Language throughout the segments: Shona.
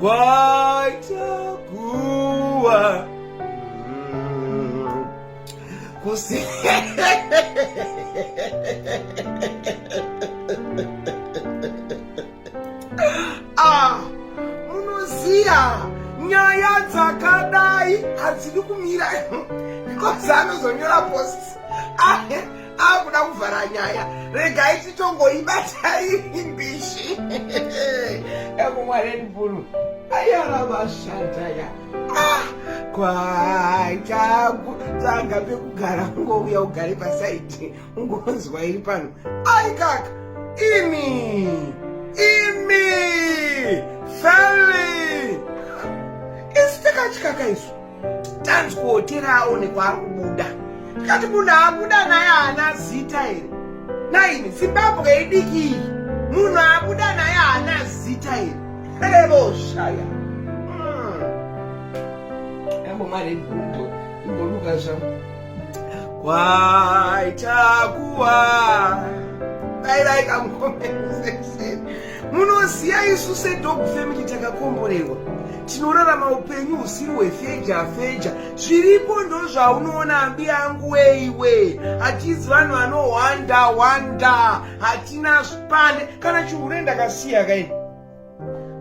kwaita kuwa mm, kusi ah, munoziya nyaya dzakadai hadzidi kumira because anozonyora post ah, akuda kuvhara nyaya regai titongoibata iyi mbishi ekumwarenburu ayara vashandaya ah, kwaitaku tsanga pekugara ungouya ugare pasaiti ungonzwa iri pano aikaka imi imi feli isi takachikaka isu tanzwo tirawo nekwaari kubuda tikati munhu abuda naye haana zita here naini zimbabwe idiki iyi munhu abuda naye haana zita here revoshaya ambomaregudo hmm. imboluka zvangu kwaitakuwa dai dai kamukomeseseni munoziva isu sedog family takakomborerwa tinorarama upenyu husiri hwefeja feja zviripo ndozvaunoona ambi angu weiwe hatizi vanhu vanohwanda hwanda hatina spane kana chihure ndakasiya kaini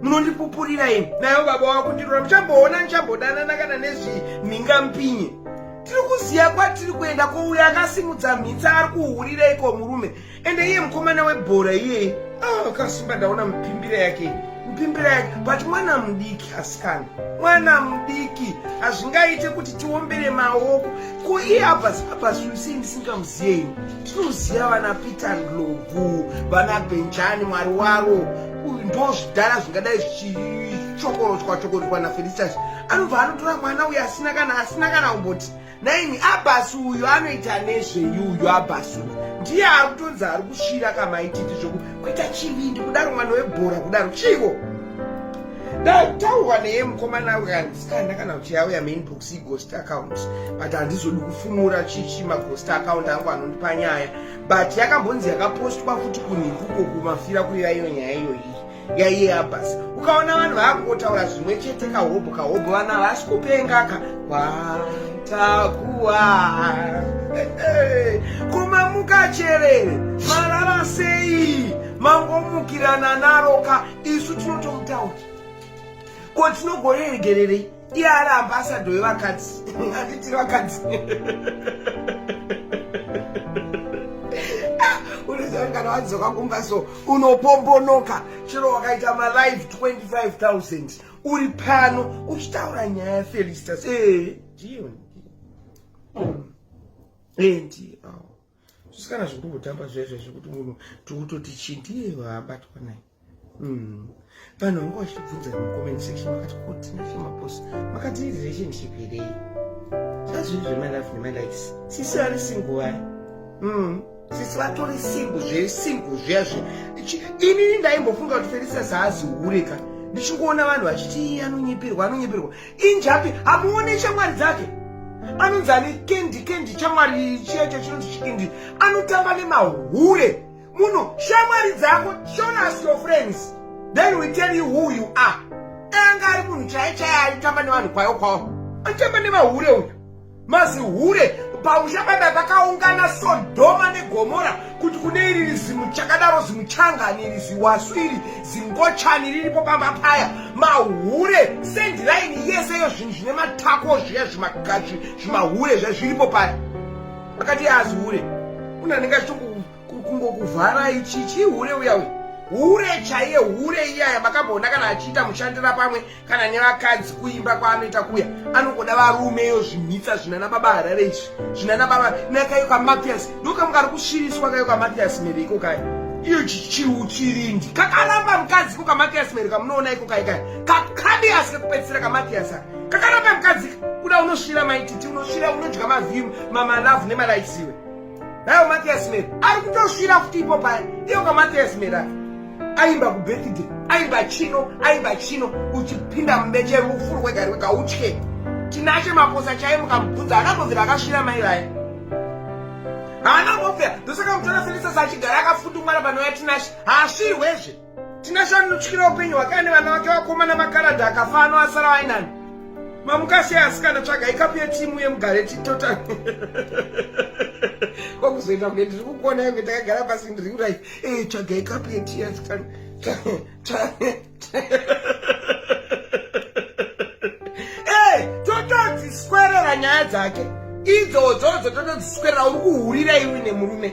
munondipupurira ini nayo baba wakundirora muchamboona ndichambodanana kana nezvimhinga mpinye tiri kuziva kwatiri kuenda kwouya akasimudza mhitsa ari kuhurira iko murume ende iye mukomana webhora iyeye ah, akasimba ndaona mupimbira yake mupimbira yake but mwana mudiki asikana mwana mudiki hazvingaite kuti tiombere maoko ko iye abas abas usei ndisingamuziyeini tinoziva vana peter ndlovu vana benjani mwari waro ndo zvidhara zvingadai zvichikorotswa chokorotwa nafelistas anobva anotora mwana uyo asina kana asina kana kumboti naini abhasi uyu anoita nezvei uyu abhasi uyu ndiye ari kutonzi ari kusvira kamaititi zvoku kuita chivindi kudaro mwana webhora kudaro chivo ndataurwa neye mukomana ukandisikana kana kuti yauya mainbox ighost account but handizodi kufumura chichi maghost account angu anondipa nyaya but yakambonzi yakapostwa futi kunhikuko kumafira kuiva iyo nyaya iyoyi yaiye abhasi ukaona vanhu vakungotaura zvimwe chete kahobho kahobho vana havasi kupenga ka kwatakuwa kumamuka cherere marara sei mangomukirana naro ka isu tinotomutaura ko tinogoreregererei iye ari ambasadho wevakadzi anditiri vakadzi unozangana wadzoka kumba so unopombonoka chero wakaita malive 25000 uri pano uchitaura nyaya yafelistas eh, ndiyo eh, ndiyo zvisikana zviri kutotamba zvezvo zvekuti munhu tikutoti chii ndiye waabatwa naye Mm. Vanhu vangu vachibvunza mucomment section vakati kuti nashemaposi makati relationship here zvazviri zvemalove nemalikes sisi vari single vaya mm. sisi vatori single zviri single zviya zve inini ndaimbofunga kuti felisa zaazi hureka ndichingoona vanhu vachiti anonyipirwa anonyipirwa injapi hamuone shamwari dzake anonzi ane kendi kendi chamwari chiyacho chinonzi chikendi anotamba nemahure muno shamwari dzako show us your friends then we tell you who you are anga ari munhu chaye chaye aitamba nevanhu kwayo kwawo atamba nevahure uyu mazihure pamusha paibai pakaungana sodhoma negomora kuti kune iri rizimu chakadaro zimuchangani iri ziwasu iri zingochani riripo pamba paya mahure sendiraini yese yo zvinhu zvine matako zviya zvimagazi zvimahure zva zviripo paya akati azihure unhu anenge achitoku kungokuvharai chichi hure uya uya hure chaiye hure iyaya makamboona kana achiita mushandira pamwe kana nevakadzi kuimba kwaanoita kuya anongoda varumeyo zvimhitsa zvinana baba harare izvi zvinana baba nakayo kamathias ndokamu kari kusviriswa kayo kamathias mere iko kaya iyo chiuchirindi kakaramba mukadzi ko kamathias mere kamunoona iko kai kaya kakadi asi kakupedzisira kamathias aka kakaramba mukadzi kuda unosvira maititi unosvira unodya mavhimu mamalavhu nemalaisiwe Dai Matthias Mera ari kutosvira futi ipo paya iyo ka Matthias Mera aimba ku birthday aimba chino aimba chino uchipinda mubeche rufuru kwega rwega utye tinache makosa chaiye mukamubvunza akambovira akasvira mai vaye haana mbovira ndosaka mutora Felisa sachigara akafutumwana panouya tinashe haasvirwezve Tinashe anotyira upenyu hwake ane vana vake vakomana makaradhi akafa ano asara vainani. Mamukashe asikana tsvaga ikapu yetimu yemugare titota. Kwakuzoita kunge ndiri kukuona yange takagara pasi ndiri kurai. Eh tsvaga ikapu yetimu yasikana. dzake idzodzo dzototodziswerera uri kuhurira iwe nemurume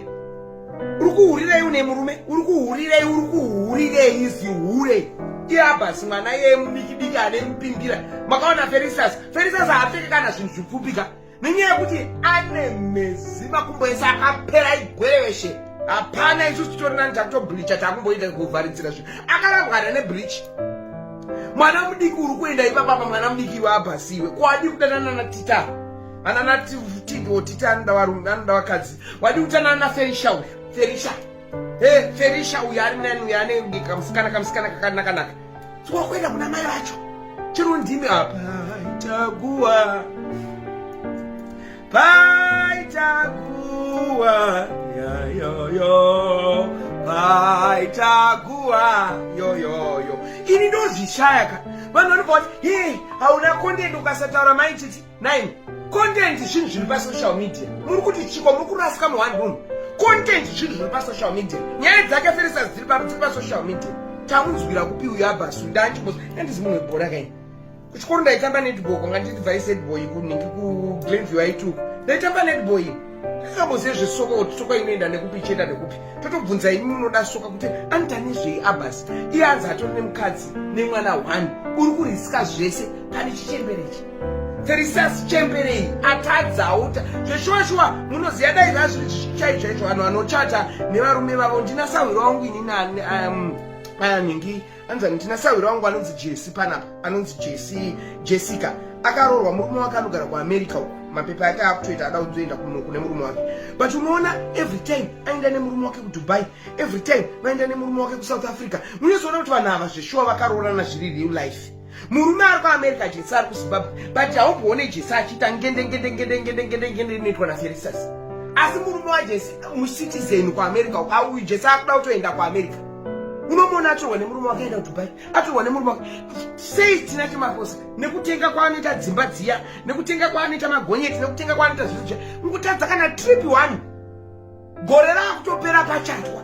uri kuhurirei une murume uri kuhurirei uri kuhurirei zihure iabhasi mwana yeye mudikidiki ane mupimbira makaona ferisas ferisas haapfeke kana zvinhu zvipfupika nenyaya yekuti ane mezi makumbo ese akapera igwereveshe hapana isu titori nani takutobleacha takumboita kuvharidzira zvinhu akarambwana nebleach mwana mudiki uri kuenda ipapapa mwana mudiki iwe abhasi iwe kwadi kudanana natita ananatitidwo tita anoda varume anoda vakadzi Wadi kutanana na Felisha uyu. Felisha. Hey, Felisha uyu ari nani uyu ane bika musikana kamusikana kakanaka naka. Twa kwenda kuna mai vacho. Chero ndimi apa. Itakuwa. Paitakuwa. Ya yo yo. Paitakuwa. Yo yo yo. Ini ndozvishaya ka. Vanhu vanobva kuti, "Hey, hauna content ukasataura mai titi." 9 content zvinhu zviri pasocial media muri kuti chiko muri kurasika muone room content zvinhu zviri pasocial media nyaya dzake feresas dziri paro dziri pasocial media tamunzwira kupi uyo abhasu ndachimbos andizi munhu webhora kai kuchikoro ndaitamba netball kwanga nditi vaisetball kunenge kuglenview aituku ndaitamba netball Tingambozive zvesoka kuti soka inoenda nekupi ichienda nekupi. Totobvunza imi munoda soka kuti anitani zvei Abbas. Iye anzi atori nemukadzi nemwana one. Uri kuriska zvese pane chichembere ichi. Therisas chembere iyi atadzawo ta zveshuwa shuwa munoziva dai zvazviri chaicho chaicho vanhu vanochata nevarume vavo ndina sahwiro wangu inini um, anhingi anzani tina sahwira wangu anonzi jesi panapa anonzi jesi jessica akaroorwa murume wake anogara kuamerica uko mapepa yake akutoita ada kuzoenda kuno kune murume wake but unoona every time aenda nemurume wake kudubai every time vaenda nemurume wake kusouth africa munozoona kuti vanhu ava zveshuwa vakaroorana zviri real life murume ari kuamerica jesi ari kuzimbabwe but haumboone jesi achiita ngendengendengendengendengendengendende inoitwa naferisas asi murume wajesi mucitizen kuamerica uko auyu jesi akuda kutoenda kuamerica unomona atorwa nemurume wake aenda kudubai atorwa nemurume wake sei tina chemakosa nekutenga kwaanoita dzimba dziya nekutenga kwaanoita magonyeti nekutenga kwaanoita zvinhu zviya ngutadza kana trip one gore raakutopera pachatwa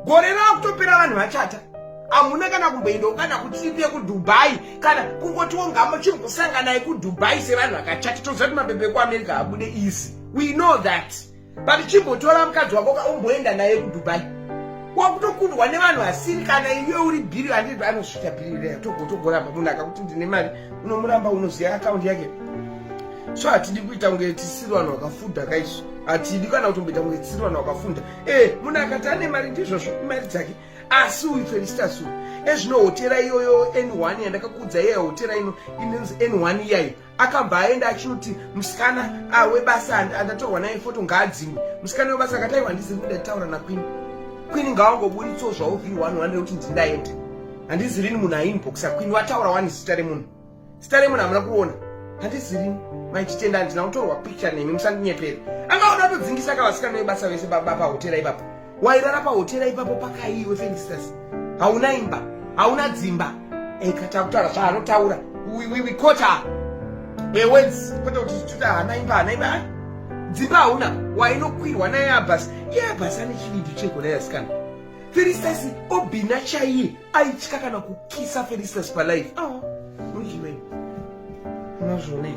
gore raakutopera vanhu vachata hamuna kana kumboendawo kana kutrip yekudubai kana kungotiwo ngamo chimbosanganai kudubai sevanhu vakachata toziva kuti mabebe kuamerica abude easy we know that but chimbotora mukadzi wako ka umboenda naye kudubai wakutokundwa nevanhu asiri kana iwe uri bhiri andii anozvita bhiri reya togotogoramba munhu akakuti ndine mari unomuramba unoziva akaundi yake so hatidi kuita kunge tisiri vanhu vakafudha kaizvo hatidi kana kutomboita kunge tisiri vanhu vakafunda e eh, munhu akati ane mari ndizvozvo imari dzake asi uyu felistas uyu ezvino hotera iyoyo n one yandakakuudza iyayo hotera ino inonzi n one iyayo akabva aenda achinoti musikana ah, webasa andatorwa naye foto ngaadzimwe musikana webasa akati aiwa handizivi kuti ndaitaura nakwini kwini ngawangoburitsawo zvavo vhiri wani wani rekuti ndindaenda handizi rini munhu ainbox akwini wataura wani zita remunhu zita remunhu hamuna kuona handizi rini maititenda handina kutorwa picture nemi musandinyepere angaona atodzingisa kavasikana vebasa vese baba pahotera ipapo wairara pahotera ipapo pakaiwe felistas hauna imba hauna dzimba ekatautaura zvaanotaura wikota ewenzi kwete kuti tuta hana imba hana imba ah, dzimba hauna wainokwirwa naye abhasi iye abhasi ane chivindi cheko naye asikana felistas obhina chaiye aitya kana kukisa felistas palife oh, ah, nozvionei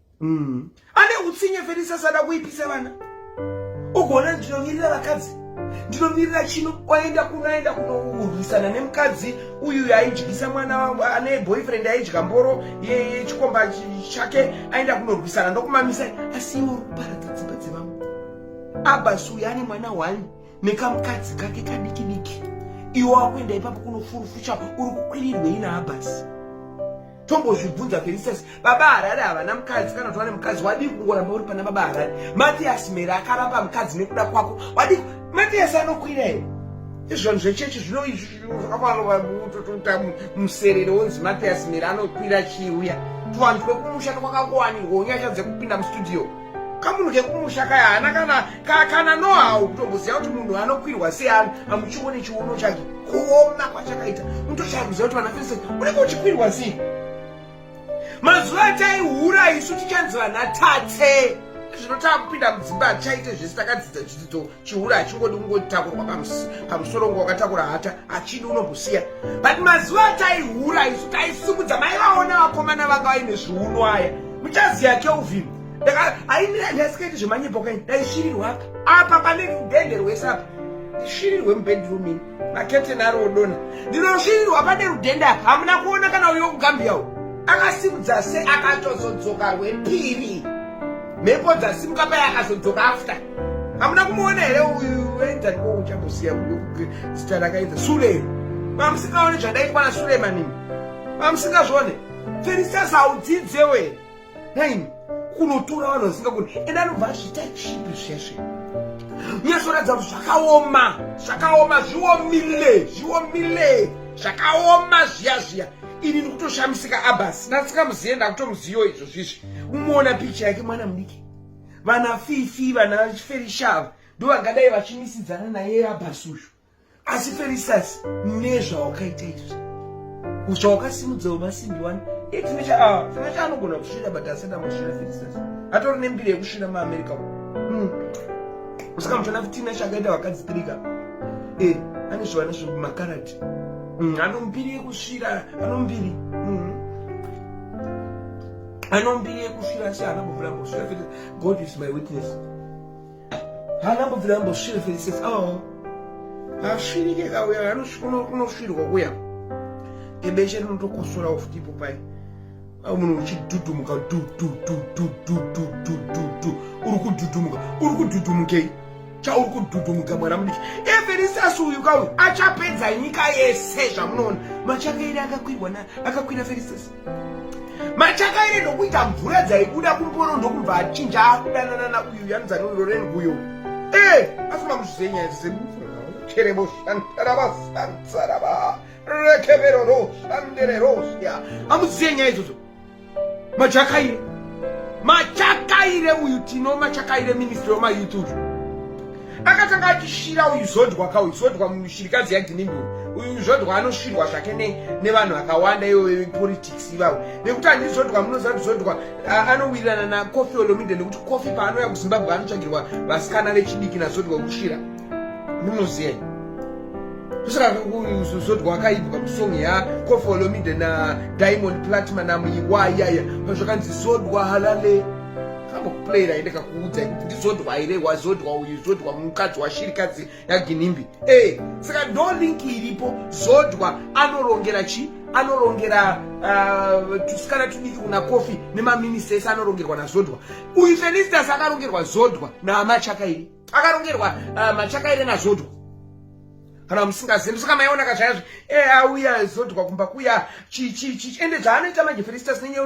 mm. ane utsinye felisa sada kuipisa vana ugoona ndinomirira vakadzi ndinomirira chino oenda kunoenda kunorwisana nemukadzi uyu yaidyisa mwana wangu ane boyfriend aidya mboro yechikomba chake aenda kunorwisana ndokumamisa asi iwo ruparadza dzimba dzevamwe abasi uyu ane mwana one nekamukadzi kake kadiki diki iwo akuenda ipapo kunofurufucha uri kukwirirwei naabasi tombozvibvunza for instance baba harare havana mukadzi kana kuti vane mukadzi wadii kungoramba uri pana baba harare matiyasi mhere akaramba mukadzi nekuda kwako wadii matiyasi anokwira here izvanhu zvechechi zvinoakuanovautotota muserere wonzi matiyasi mhere anokwira chiuya tuvanhu twekumusha twakangowanirwa unyasha dzekupinda mustudio kamunhu kekumusha kaya hana kana ka, kana nohawo kutomboziva kuti munhu anokwirwa seani amuchione chiuno chake kuona kwachakaita mutocharuziva kuti vana fese unenge uchikwirwa sei mazuva ataihura isu tichanzi vana tate zvinotaa kupinda mudzimba hatichaite zvese takadzidza chidzidzo chihura hachingodi kungotakurwa pamusoro ngo wakatakura hata achidi unomusiya but mazuva ataihura isu taisimudza mai vaona vakomana vanga vaine zviuno aya muchaziya kelvin ndaisingaiti zvemanyepo kaini ndaishirirwa apa apa pane mubhedhi rwese apa ndishirirwe mubhedhi rumini makete naro odona ndinosvirirwa pane rudhenda hamuna kuona kana uyo kugambia u akasimudza se akatozodzoka rwepiri mhepo dzasimuka paye akazodzoka after hamuna kumuona here uyu wenzani ko uchamusiya zita rakaita sule mamusikaone zvandaitikwana sulemanini mamusingazvone feristas haudzidzewe nhaimi kunotora vanhu vasingagoni ende anobva azviita chipi zvesve nyatsoratidza kuti zvakaoma zvakaoma zviomile zviomile zvakaoma zviya zviya ini ndikutoshamisika abas nasikamuziye ndakutomuziyo izvo zvizvi umoona picha yake mwana mudiki vana fifi vana ferishava ndo vangadai vachimisidzana naye abas uyu asi felisasi nezvawakaita izvi zvawakasimudzawo masimbi wani itinechaa ah, anogona kusvira but asati amasvira felisasi atori nembiri yekusvira muamerica hmm. saka muchona fitina chakaita vakadzi tirika eh, ane zvivana zvemakarati hmm, anombiri yekusvira anombiri hmm. anombiri yekusvira asi anambovula mbosvira god is my witness haana mbobvira ambosvira felices awawo asvirike kauya anosvirwa kuya ebeshe rinotokosorawo futi ipo pai au munhu uchidhudhumuka dudududududududududhu uri kudhudhumuka uri kudhudhumukei chauri kudhudhumuka mwana mudiki eferisas uyu kauyu achapedza nyika yese zvamunoona machake iri akakwirwa na akakwira ferisas machakaire ndokuita mvura dzaibuda kumboro ndokubva achinja akudananana uyu yanudza nondoren uyo e eh, afuma muzvizenyaya zisekucherebo shantaraba santsaraba rekevero ro shandere rosya amuziye nyaya idzodzo machakaire machakaire uyu tino machakaire ministry wemayouth uyu akatanga achisvira uyu zodwa ka uyu zodwa mushirikadzi yaginimbi uyu zodwa anosvirwa zvake nevanhu akawanda ivo vepolitics ivavo nekuti handi zodwa munoziva kuti zodwa anowirirana nacofi olomide nekuti cofi paanouya kuzimbabwe anotsvagirwa vasikana vechidiki nazodwa kusvira munoziyai kusaka zodwa akaibwa musong yacofi olomide nadiamond platma namuiwayaya pazvakanzi zodwa halale playera ende kakuudza kuti ndizodwa here wazodwa uyu zodwa mukadzi washirikadzi yaginimbi e eh, saka ndo link iripo zodwa anorongera chi anorongera uh, tusikana tudiki kuna kofi nemaminista ese anorongerwa nazodwa uyu felistas akarongerwa zodwa namachakairi akarongerwa uh, machakairi nazodwa kana musingazivi saka maiona kazvayazvi e eh, auya zodwa kumba kuya chichichi ende zvaanoita manje felistas nenyeu